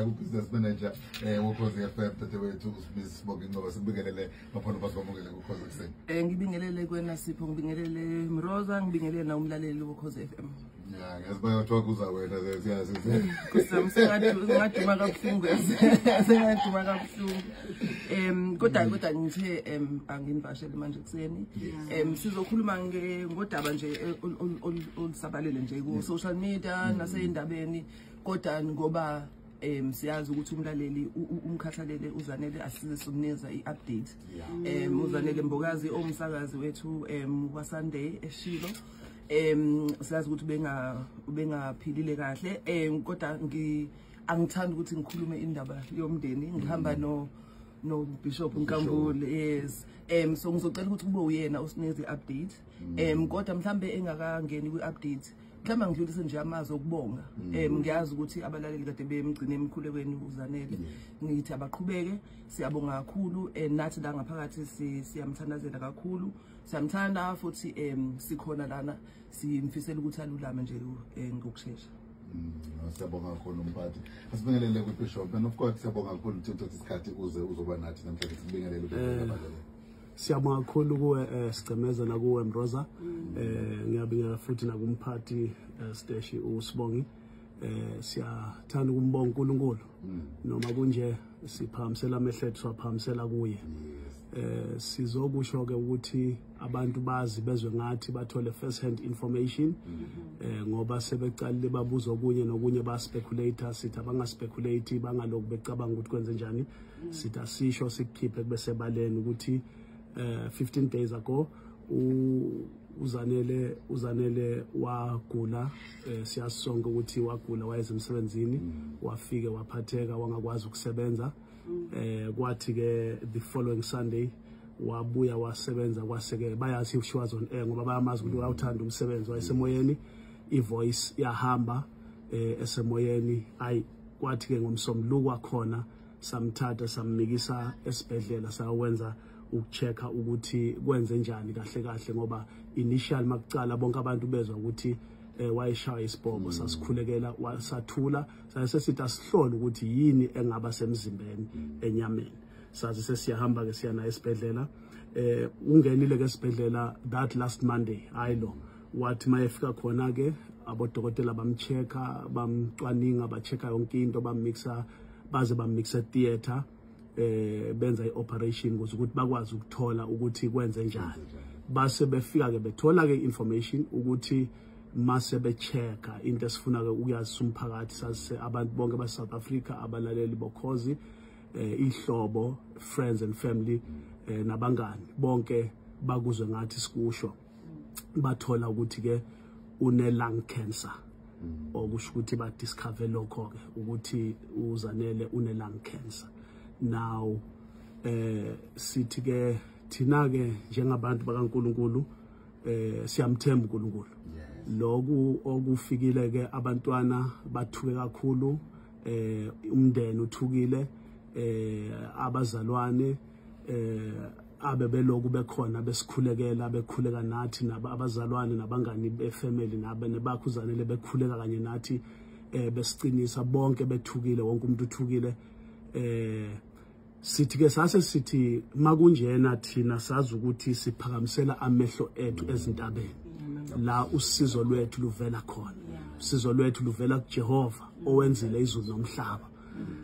ubusiness manager eh wokhozi FM dadewethu uSmith Sibonge Ngcobo sibingelele baphona basibamukele kukhozi kuseni eh ngibingelele kwena Sipho ngibingelele Mroza ngibingelele na umlaleli wokhozi FM ya ngazi bayothiwa kuza wena siyazi kusamsengaduma kabuhlungu sengaduma kabuhlungu em kodwa mm. kodwa ngithe em anginibashele manje kuseni em sizokhuluma ngodaba nje olusabalele nje ku social media mm. naseyindabeni kodwa ngoba um siyazi ukuthi umlaleli umkhathalele uzanele asize somnikeza i-update um uzanele mbokazi owumsakazi wethu um wasunday eshilo um siyazi ukuthi ubengaphilile kahle um kodwa angithandi ukuthi ngikhulume indaba yomndeni ngihamba mm. no no bishop nkambule yes um so ngizocela ukuthi kube uyena osineze i-update um kodwa mhlawumbe engakangeni kwi-update mhlawumbe ngidlulise nje amazwi okubonga um mm. ngiyazi ukuthi abalaleli kade bemgcine emkhulekweni uzanele ngithi abaqhubeke siyabonga kakhulu um nathi la ngaphakathi siyamthandazela kakhulu siyamthanda futhi um sikhona lana simfisela ukuthi alulame nje eh, ngokushesha Mm, siyabonga kakhulu mphathi asibingelele kwibishop and of course siyabonga kakhulu ukuthi uthatha isikhathi uze uzoba nathi namhlanje sibingelele eh, siyabonga kakhulu kuwe eh, sigcemeza nakuwe mroza mm. eh, ngiyabinga futhi nakumphathi eh, steshi usibongi eh, siyathanda ukumbonga unkulunkulu mm. noma kunje siphakamisela amehlo ethu siwaphakamisela kuye eh, sizokusho-ke ukuthi abantu bazi bezwe ngathi bathole first hand information mm-hmm. eh, ngoba sebeqalile babuza okunye nokunye baspeculator sithi abangaspeculator bangaloku becabanga ukuthi kwenze njani sithi asisho sikukhiphe kube sebaleni ukuthi um eh, 15 days ago uzanele uzanele wagula eh, siyazi sonke ukuthi wagula wayeze emsebenzini mm. wafike waphatheka wangakwazi ukusebenza mm. eh kwathi ke the following sunday wabuya wasebenza kwaseke bayazi she was on air ngoba bayamazi ukuthi mm. wayawuthanda umsebenzi wayesemoyeni ivoice yahamba eh esemoyeni ay kwathi ke ngomsombuluko wakhona samthatha samnikisa esibhedlela sawenza ukuchecka ukuthi kwenze njani kahle kahle ngoba initial makucala bonke abantu bezwa ukuthi eh, wayeshaya isibhobo hmm. sasikhulekela sathula sayise sithi asihlole ukuthi yini engaba semzimbeni hmm. enyameni sazi sesiyahamba ke siya naye esibhedlela eh ungenile ke esibhedlela that last monday hayi lo wathi mayefika khona ke abodokotela bamchecka bamcwaninga bachecka yonke into bammixa baze bamnikisa theatre eh benza ioperation ukuze ukuthi bakwazi ukuthola ukuthi kwenze njani base befika ke bethola ke information ukuthi mase bechecka into esifuna ke ukuyazisa umphakathi sase abantu bonke ba South Africa abalaleli bokhozi eh ihlobo friends and family eh, nabangani bonke bakuzwe ngathi sikusho bathola ukuthi ke une lung cancer mm. okusho ukuthi ba discover lokho ke ukuthi uzanele une lung cancer now eh sithi ke thina ke njengabantu bakaNkuluNkulu eh siyamthemba uNkulunkulu lokhu okufikile ke abantwana bathuke kakhulu eh umndeni uthukile eh abazalwane eh abe beloku bekhona besikhulekela bekhuleka nathi abazalwane nabangani befamily nabe nebakho uzanele bekhuleka kanye nathi eh besiqinisa bonke bethukile wonke umuntu uthukile eh sithi ke sase sithi makunjena thina sazi ukuthi siphakamisela amehlo ethu ezintabeni la usizo lwethu luvela khona usizo lwethu luvela kuJehova owenzile izulu nomhlaba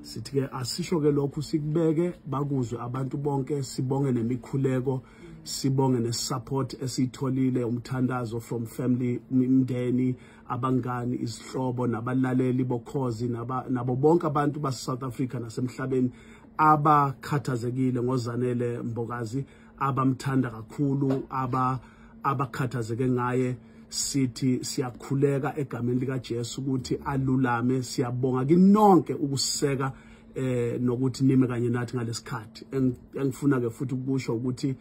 sithi ke asisho ke lokhu sikubeke bakuzwe abantu bonke sibonge nemikhuleko sibonge nesupport esiyitholile umthandazo from family imndeni abangani izihlobo nabalaleli bokhozi nabo bonke abantu base South Africa nasemhlabeni abakhathazekile ngozanele mbokazi abamthanda kakhulu aba abakhathazeke ngaye sithi siyakhuleka egameni likaJesu ukuthi alulame siyabonga kinonke ukuseka eh nokuthi nime kanye nathi ngalesikhathi engifuna ke futhi ukusho ukuthi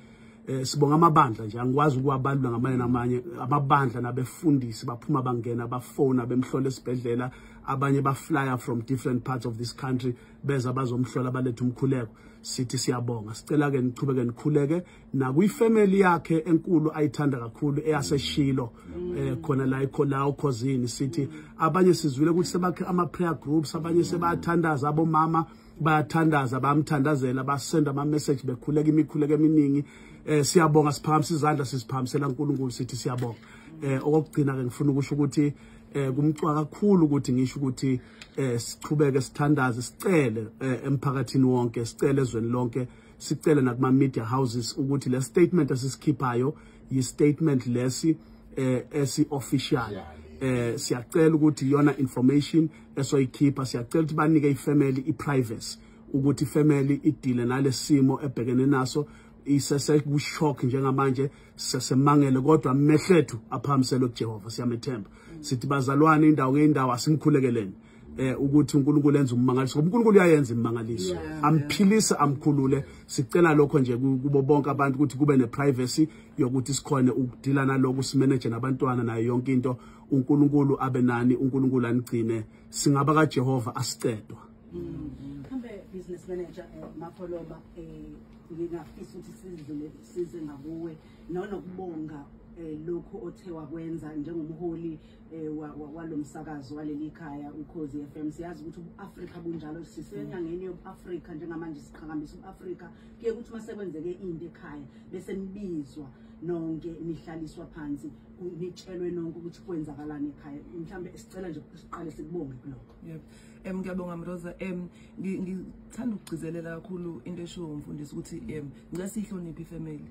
eh sibonga amabandla nje angikwazi ukuwabalula ngamanye namanye ababandla nabefundisi baphuma bangena bafona bemhlola esibhedlela abanye baflya from different parts of this country beza bazomhlola balethe umkhuleko sithi siyabonga sicela ke nichubeke nikhuleke nakwi family yakhe enkulu ayithanda kakhulu eyaseshilo mm. eh khona la ikho la ukhozini sithi abanye sizwile ukuthi sebakhe ama prayer groups abanye sebathandaza abomama bayathandaza bamthandazela basenda ama message bekhuleka imikhuleko eminingi eh siyabonga siphakamisa izandla sisiphakamisela uNkulunkulu sithi siyabonga eh okugcina ke ngifuna ukusho ukuthi eh kumcwa kakhulu ukuthi ngisho ukuthi eh sichubeke sithandaze sicele eh, emphakathini wonke sicele ezweni lonke sicele nakuma media houses ukuthi le statement esisikhiphayo yi statement lesi eh esi official eh siyacela ukuthi yona information esoyikhipha siyacela ukuthi banike ifamily iprivacy ukuthi ifamily idile nalesimo ebhekene naso isese ku shock njengamanje sesemangele kodwa amehlethu aphamiselwe kuJehova siyamethemba sithi bazalwane indawo ngeindawo asimkhulekeleni eh ukuthi uNkulunkulu enza ummangaliso uNkulunkulu uyayenza immangaliso amphilisa amkhulule sicela lokho nje kubo bonke abantu ukuthi kube neprivacy yokuthi sikhone ukudila naloko simanage nabantwana nayo yonke into uNkulunkulu abe nani uNkulunkulu anigcine singaba kaJehova asicedwa mm-hmm. mhlambe business manager eh, mapholoba eh ngingafisa ukuthi sidlule size ngakuwe nonokubonga eh, lokhu othe wakwenza njengomholi eh, walo msakazo waleli khaya ukhozi f m siyazi ukuthi ubu-afrika bunjalo sisenyangeni yobu-afrika njengamanje siqhakambisa ubu-afrika kuye ukuthi uma sekwenzeke into ekhaya bese nibizwa nonke nihlaliswa phansi nitshelwe nonke ukuthi kwenzakalani ekhaya mhlawumbe sicela nje siqale sikubonge kulokho em ngiyabonga mroza em ngithanda ukugcizelela kakhulu into eshiwo umfundisi ukuthi em ngicela siyihloniphe ifamily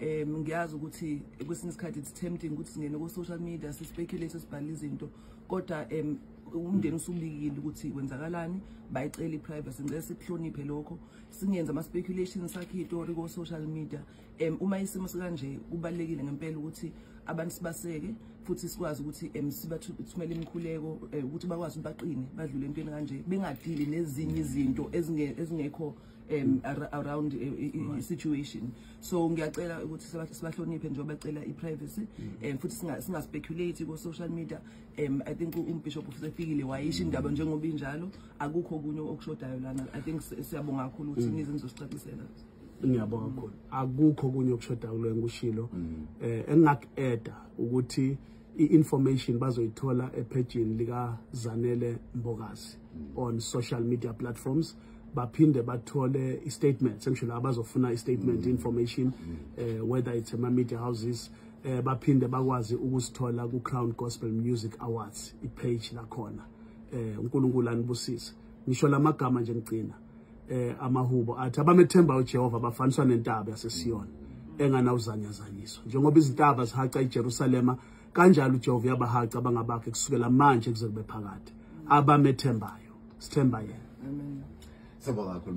em ngiyazi ukuthi kwesinye isikhathi it's tempting ukuthi singene ku-social media sispeculate sibhale izinto kodwa em umndeni usubikile ukuthi kwenzakalani bayicela i-privacy ngicela sikuhloniphe lokho singenza ama-speculation sakhe itori ko-social media um uma isimo sikanje kubalulekile ngempela ukuthi abantu sibaseke futhi sikwazi ukuthi um sibathumele imikhuleko um ukuthi bakwazi ukuthi baqine badlule entweni kanje bengadili nezinye izinto ezingekho um around eh, situation so ngiyacela ukuthi sibahloniphe njengoba bacela i-privacy um futhi singaspeculate ko-social media um i think umbishop usefikile wayisho indaba njengoba injalo akukho okunye okushodayo lana i think siyabonga kakhulu ukuthi mm. nize nizosicacisela ngiyabonga kakhulu akukho kunye okushoda kulo engikushilo mm. eh engingakueda ukuthi i-information bazoyithola ephejini lika Zanele Mbokazi mm. on social media platforms baphinde bathole i-statement sengisho la bazofuna i-statement mm. information eh whether it's ama media houses eh baphinde bakwazi ukusithola ku Crown Gospel Music Awards i-page lakhona eh uNkulunkulu anibusise ngisho lamagama nje ngigcina eh amahubo athi abamethemba uJehova bafaniswa nentaba yaseSiyona enganawuzanyazanyiswa njengoba izintaba zihaca iJerusalema kanjalo uJehova uyabahaca abangabakhe kusukela manje kuze kube phakade abamethembayo sithemba yena amen sibonga kakhulu